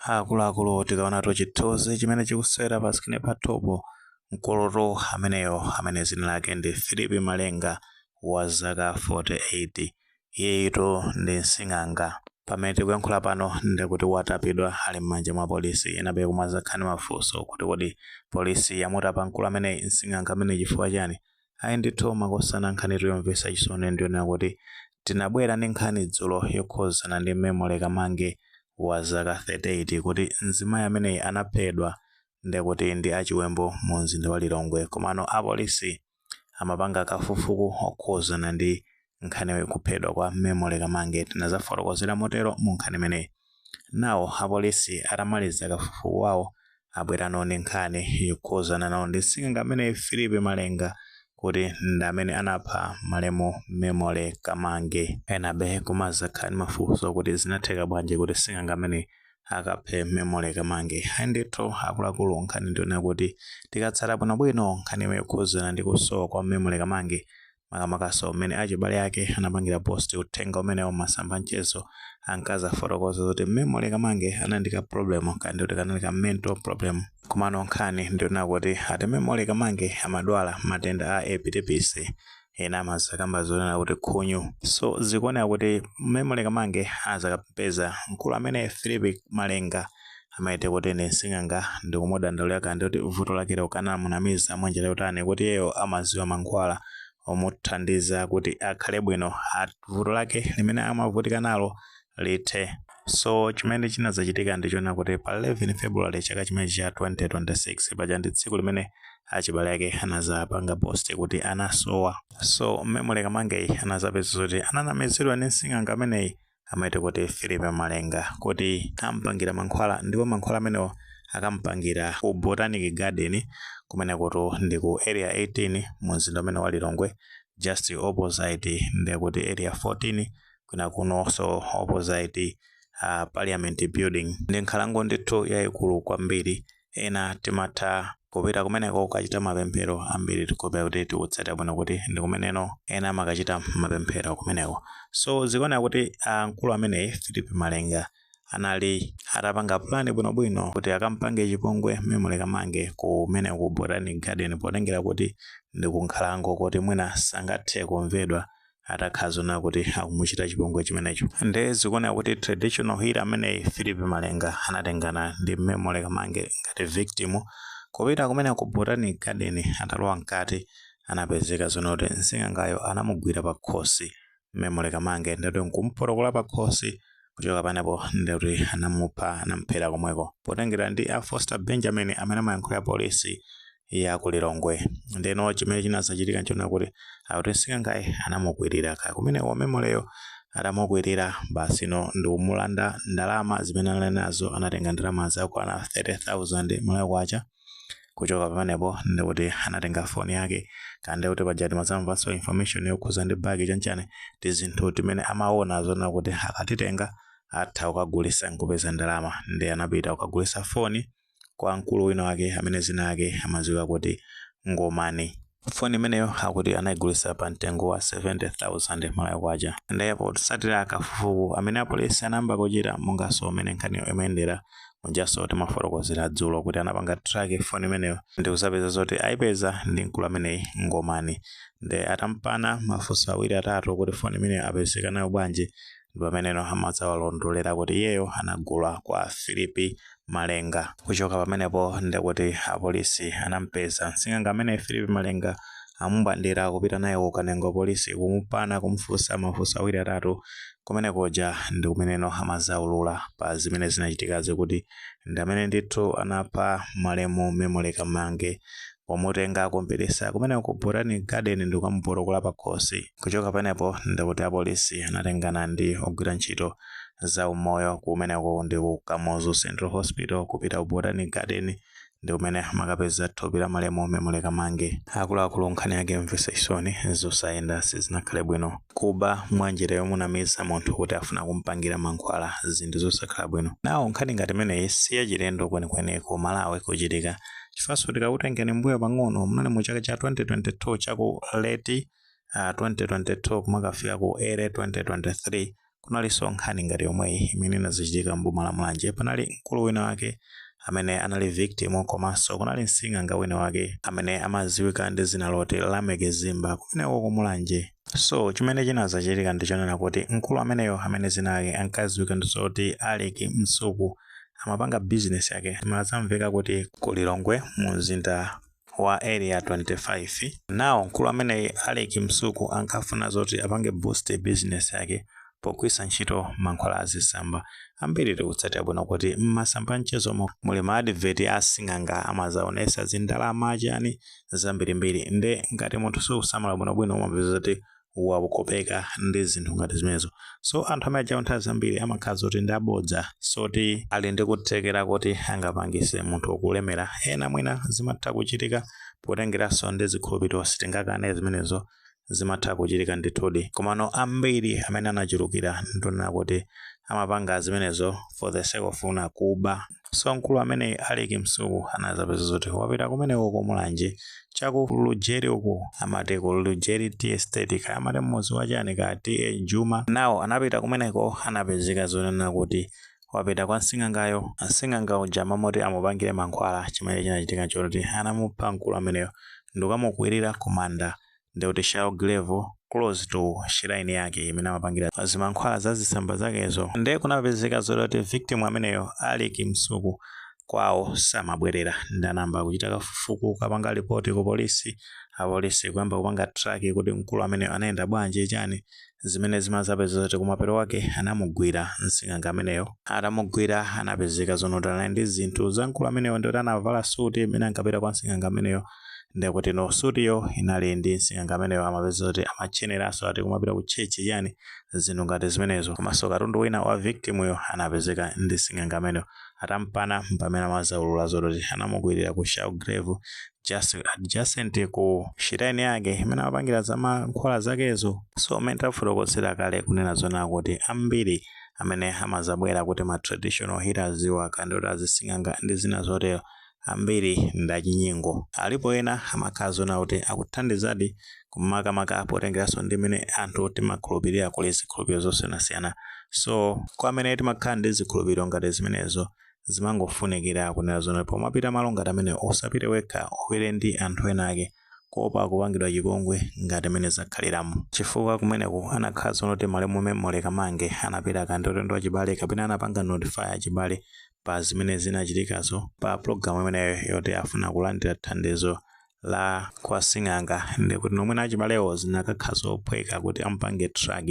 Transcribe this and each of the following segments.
Akuluakulu tikaonatu chithuzi chimene chikusewera pa screen pathupo mkulutu ameneyo amene zina lake ndi Philip Malenga wa zaka 48 iyeyitu ndi msing'anga pamene tikuyankhula pano ndikuti watapidwa ali m'manja mwa polisi enabe kumazakhala ndi mafunso kuti kodi polisi yamutapa mkulu ameneyi msing'anga amene chifukwa chani Ayi ndithu makosana nkhanitu yomvesa chisoni ndiyonena kuti tinabwera ndi nkhani dzulo yokhuzana ndi Memory Kamange wazaka 38 kuti mzimayi ameneyi anaphedwa ndikuti ndi achiwembu mu mzinda wa Lilongwe komano apolisi amapanga kafukufuku okhuzana ndi nkhani yokuphedwa kwa Memory Kamange tinazafotokozera motero mu nkhani imeneyi. Nawo apolisi atamaliza kafukufuku wawo abwera nawo ndi nkhani yokhuzana nawo ndi sing'anga amene Philip Malenga kuti ndi amene anapha malemu Memory Kamange. Enabe kumazakhala ndi mafunso kuti zinatheka bwanji kuti sing'anga amene akaphe Memory Kamange. Ayi ndithu akuluakulu nkhani ndiyonena kuti tikatsata bwinobwino nkhani yokhuzana ndi kusowa kwa Memory Kamange makamakaso mmene achibale ake anapangira post uthenga umenewo mmasamba anchezo ankazafotokoza kuti Memory kamange anali ndi ka problem kaya ndikuti kanali ka mental problem komano nkhani ndiyonena kuti ati memory kamange amadwala matenda a epilepsy ena amazakamba zonena kuti khunyu so zikuoneka kuti memory kamange azakapeza mkulu amene philip malenga amaite kuti ndi msing'anga ndikumudandaulira kaya ndikuti vuto lake lo kaya anamunamiza mwa njira yotani kuti iyeyo amaziwa mankhwala omuthandiza kuti akhale bwino at- vuto lake limene amavutika nalo lithe so chimene chinazachitika ndichonena kuti pa 11 february chaka chimene cha 2026 paja ndi tsiku limene achibale ake anazapanga post kuti anasowa so memory kamangeyi anazapeza kuti ananamizidwa ndi msing'anga ameneyi amaite kuti Philip Malenga kuti ampangira mankhwala ndipo mankhwala amenewo akampangira ku Botanic Garden kumenekutu ndi ku area 18 mu mzinda umene wa Lilongwe just opposite ndi kuti area 14 kwina kuno so opposite uh, parliament building ndi nkhalango ndithu yayikulu kwambiri ena timatha kupita kumeneko kukachita mapemphero ambiri tikhulupirira kuti tikutsata bwino kuti ndi kumeneno ena amakachita mapemphero kumeneko so zikuoneka kuti ah, mkulu ameneyi philip malenga anali atapanga pulani bwinobwino kuti akampange chipongwe memory kamange kumene ku botanic garden potengera kuti ndi kunkhalango kuti mwina sangathe kumvedwa atakhala zona kuti akumuchita chipongwe chimenecho nde zikuoneka kuti traditional healer ameneyi philip malenga anatengana ndi memory kamange ngati victim kupita kumene ku botanic garden atalowa mkati anapezeka zona kuti nsing'angayo anamugwira pa khosi memory kamange ndati nkumupotokola pa khosi kuchoka panepo ndikuti anamupha anamuphera komweko potengera ndi a foster benjamin amene amayankhulira polisi ya ku Lilongwe ndeno chimene chinazachitika nchona kuti akuti sing'angayo anamukwirira kaya kumeneko Memoryyo atamukwirira basi ndikumulanda ndalama zimene anali nazo anatenga ndalama zakwana 30000 Malawi kwacha kuchoka pamenepo ndikuti anatenga foni yake kande kuti paja timazamvanso information yokhuza ndi bagi chanichani tizinthu timene amaona zona kuti akatitenga atha kukagulisa nkupeza ndalama ndi anapita kukagulisa foni kwa mkulu wina wake amene zina yake amaziwika kuti Ngomani. Foni imeneyo akuti anayigulisa pa mtengo wa 70,000 Malawi Kwacha. Ndiye potsatira kafukufuku amene apolisi anayamba kuchita monganso umene nkhaniyo imayendera, mujanso timafotokozera dzulo kuti anapanga track foni imeneyo ndi kuzapeza zoti ayipeza ndi mkulu ameneyi Ngomani. Ndiye atampana mafunso awiri atatu kuti foni imeneyo apezeka nayo bwanji, ndi pameneno amazawalondolera kuti iyeyo anagula kwa Filipi Malenga. Kuchoka pamenepo ndi kuti apolisi anampeza msing'anga amene Filipi Malenga amubwandira kupita naye ku Kanengo polisi kumupana kumufunsa mafunso awiri atatu. Kumene kuja ndi kumeneno amazaulula pa zimene zinachitikazi kuti ndi amene ndithu anapha malemu Memory Kamange pomutenga kumpitisa kumene ku botanic garden ndikukamupotokola pakhosi kuchoka panepo ndikuti apolisi anatengana ndi ogwira ntchito za umoyo kumeneko ndi ku kamuzu central hospital kupita ku botanic garden ndi kumene amakapeza thupi la malemu memory kamange akuluakulu nkhani yake yomvesa chisoni zosayenda sizinakhale bwino kuba mwanjira yomunamiza munthu kuti afuna kumpangira mankhwala zinthu zosakhala bwino nawo nkhani ngati imeneyi si yachilendo kwenikweni ku malawi kuchitika chifukwanso tikakutengani mbuyo pang'ono munali mu chaka cha 2022 chaku late uh, 2022 kumakafika ku early 2023 kunalinso nkhani ngati yomweyi imene inazichitika mboma la mulanje panali mkulu wina wake amene anali victim komanso kunali msing'anga wina wake amene amaziwika ndi zina loti lameck zimba kumeneko kumulanje so chimene chinazachitika ndichonena kuti mkulu ameneyo amene zina lake ankaziwika ndizoti alec msuku amapanga business yake malo zamveka kuti ku Lilongwe mu mzinda wa area 25 nawo mkulu ameneyi Alec Msuku ankafuna zoti apange boost business yake pogwiritsa ntchito mankhwala a zitsamba ambiri tikutsatira bwino kuti m'masamba mchezomo muli ma advert a sing'anga amazaonesa zindalama chani zambirimbiri nde ngati munthu sukusamala bwinobwino umapeza zoti wakopeka ndi zinthu ngati zimenezo so anthu amene ajawo nthawi zambiri amakhala zoti ndi abodza sizoti ali ndi kuthekera kuti angapangise munthu wokulemera ena mwina zimatha kuchitika potengeranso ndi zikhulupiriro sitingakane zimenezo zimatha kuchitika ndithudi komano ambiri amene anachulukira ndonena kuti amapanga zimenezo for the sake ofuna kuba so mkulu amene Alick Msuku anazapezeka zoti wapita kumeneko ku mulanje chaku lujeri uku amati ku lujeri tea estate kaya amati mmuzi wa chani kaya TA Juma nawo anapita kumeneko anapezeka zonena kuti wapita kwa msing'angayo msing'anga uja mmalo moti amupangire mankhwala chimene chinachitika nchoti anamupha mkulu ameneyo ndikukamukwirira kumanda ndi kuti shallow grave close to shrine yake imene amapangira zimankhwala za zitsamba zakezo nde kunapezeka zoti victim ameneyo Alick Msuku kwawo samabwerera nde anayamba kuchita kafukufuku kukapanga lipoti ku polisi apolisi kuyamba kupanga track kuti mkulu ameneyo anayenda bwanji chani zimene zimazapeza zoti kumapeto kwake anamugwira msing'anga ameneyo atamugwira anapezeka zonoti anali ndi zinthu za mkulu ameneyo ndikuti anavala suti imene ankapita kwa msing'anga ameneyo ndekuti sutiyo inali ndi msing'anga ameneyo amapeza kuti amatcheneraso ati kumapita ku chechi chani zinthu ngati zimenezo komanso katundu wina wa victimuyo anapezeka ndi msing'anga ameneyo atampana mpamene amazaulula zoti anamukwirira ku shallow grave just adjacent ku shrine yake imene amapangira za mankhwala zakezo so mmene tafotokozera kale kunena zonena kuti ambiri amene amazabwera kuti ma traditional healers iwo akandoti azising'anga ndi zina zotero ambiri ndachinyengo alipo ena amakhala zonena kuti akuthandizadi makamaka potengeranso ndi mene anthu timakhulupirira kuli zikhulupiriro zosiyanasiyana so kwa amene timakhala ndi zikhulupiriro ngati zimenezo zimangofunikira kunena zoti pomapita malo ngati amenewo usapite wekha upite ndi anthu ena ake kuopa kupangidwa chipongwe ngati mene zakhaliramu chifukwa kumeneku anakakhala zonoti malemu memory kamange anapita kandi ulendo wachibale kapena anapanga notify achibale pa zimene zinachitikazo pa pulogalamu imeneyo yoti afuna kulandira thandizo la kwa sing'anga ndi kuti nomwena achibalewo zinakakhala zophweka kuti amupange track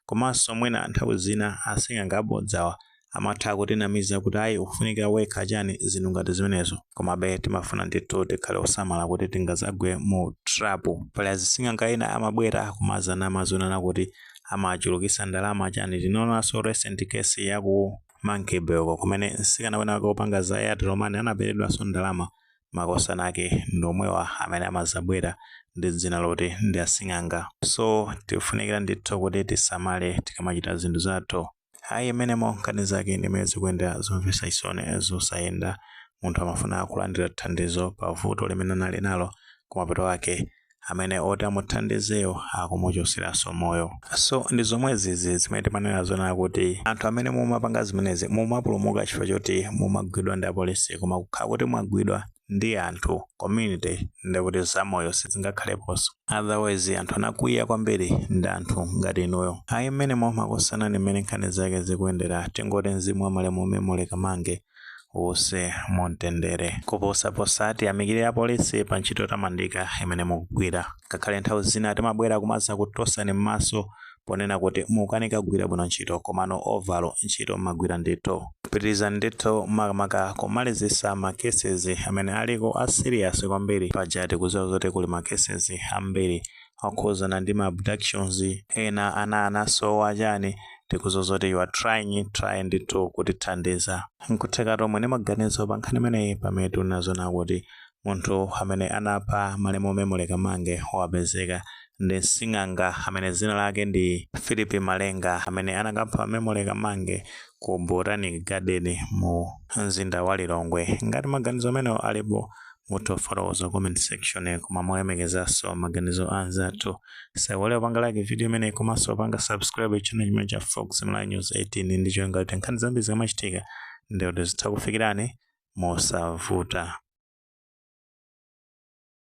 komanso mwina nthawi zina asing'anga abodzawa amatha kutinamiza kuti ayi ukufunika wekha chani zinthu ngati zimenezo komabe timafuna ndithu tikhale osamala kuti tingazagwe mu trap pali azising'anga ena amabwera kumazanama zonena kuti amachulukisa ndalama chani tinaonanso recent case ya ku Monkey Bay ko kumene msikana wina wake wopanga za airtel money anaberedwanso ndalama makosana ake ndi omwewa amene amazabwera ndi dzina loti ndi asing'anga so tifunikira ndithu kuti tisamale tikamachita zinthu zathu ayi mmenemo nkhani zake mmene zikuyendera zomvetsa chisoni zosayenda munthu amafuna kulandira thandizo pa vuto limene anali nalo kumapeto ake amene oti amuthandizeyo akumuchotseranso moyo so ndi zomwe zizi zimene timanena zonena kuti anthu amene mumapanga zimenezi mumapulumuka chifukwa choti mumagwidwa ndi apolisi koma kukhala kuti mwagwidwa ndi anthu community ndikuti zamoyo sizingakhaleponso otherwise anthu anakwiya kwambiri ndi anthu ngati inuyo ayi mmenemo makosana ndi mmene nkhani zake zikuyendera tingoti mzimu wa malemu memory kamange uuse mumtendere koposaposa tiyamikire apolisi pa ntchito yotamandika imene mukugwira ngakhale nthawi zina timabwera kumazakutosani m'maso ponena kuti mukanika kugwira bwino ntchito komano overall ntchito mmagwira ndithu pitirizani ndithu makamaka kumalizisa ma cases amene aliko a serious kwambiri paja tikuziwa zoti kuli ma cases ambiri okhuzana ndi ma abductions ena ana anasowa chani tikuziwa zoti you are trying try ndithu kutithandiza nkutheka inu omwe muli ni maganizo pa nkhani imeneyi pamene tinaziona kuti munthu amene anapha malemu memory kamange wapezeka ndi msing'anga amene dzina lake ndi philip malenga amene anakapha memory kamange ku botanic garden mu mzinda wa lilongwe ngati maganizo amenewo alipo mutha kufotokoza mu comment section koma molemekezanso maganizo a anzathu musaiwale kupanga like video imeneyi komanso kupanga subscribe channel chimene cha fox malawi news 18 ndi cholinga kuti nkhani zambiri zikamachitika ndikuti zitha kufikirani mosavuta